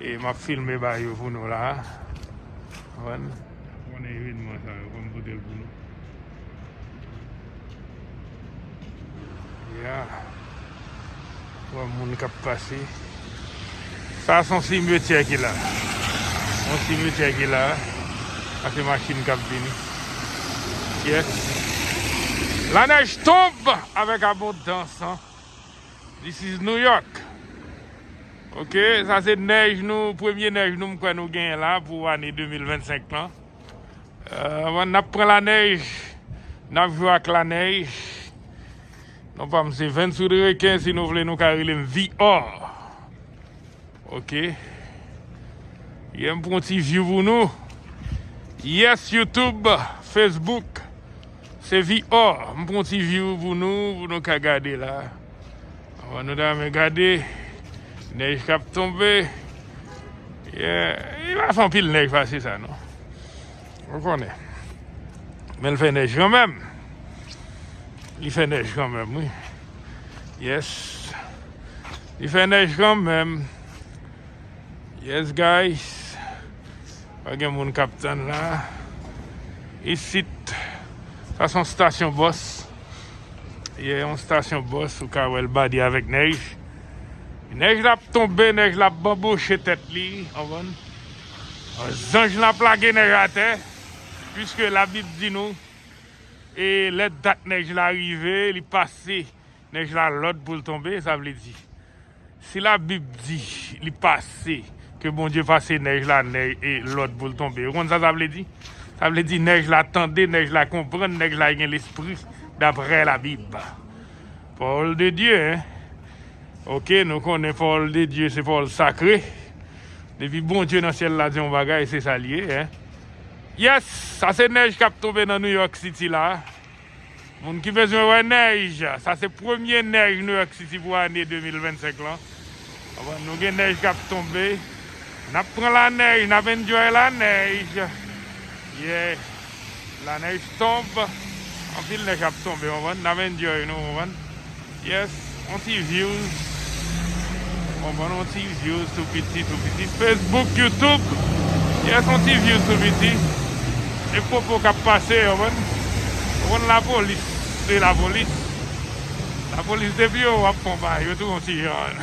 E map filme ba yo pou nou la. Konprann? Konnen evenman sa yo fòm potel pou nou. Ya. Wap moun kap pase. Sa son simetyè ki la. Son simetyè ki la. Ase machin kap vini. Yes. La nej tonb avèk abondans an. This is New York ok sa se nèj nou premye nèj nou m kwè nou genyen la pou ane 2025 lan euh nap pran la nèj nap jwe ak la nèj non pam se Venswood Reken si nou vle nou ka rele m VR. Ok. Yè m pran ti view pou nou. Yes YouTube, Facebook. Se VR. M pran ti view pou nou pou nou ka gade la. Avan nou ta men gade. Nèj kap tonbe. Yeah. Li pa fè anpil nèj pase sa non. Ou konnen. Men l fè nèj kan menm. Li fè nèj kan menm wi. Yes. Li fè nèj kan menm. Yes guys. Pa gen moun kap tann la. Isit. Sa son stasyon bòs. Ye yon stasyon bòs ou ka wèl badi avèk nèj. Nèj la ap tonbe, nèj la ap banboche tèt li. Ou konn. Zanj lan ap lage nèj atè, piske Labib di nou, E lè dat nèj la rive, li pase nèj la lòd pou l tonbe. Sa vle di, si Labib di li pase, ke Bondye pase nèj la lòd pou l tonbe, ou konn sa sa vle di? Sa vle di nèj la tande, nèj la konprann, nèj la gen lespri, daprè Labib. Pawòl de Dye, hein! Oke, nou konnen pawòl de Dye se pawòl sakre, Depi Bondye nan syèl la di yon bagay se sa l ye hein. Yes sa se nèj kap tonbe nan New York City la moun ki bezwen wè nèj sa se premye nèj New York City pou ane 2025 lan nou gen nèj kap tonbe nap pran lanèj nap enjoy lanèj yeah. La neige tombe anpil nèj ap tonbe ou konprann nap enjoy nou ou konprann yes yon ti views ou konprann yon ti views tou piti tou piti facebook youtube yes yon ti views tou piti e popo kap pase ou konprann ou konn lapolis se lapolis lapolis depi yo wè wap konba yo tou yon ti jan.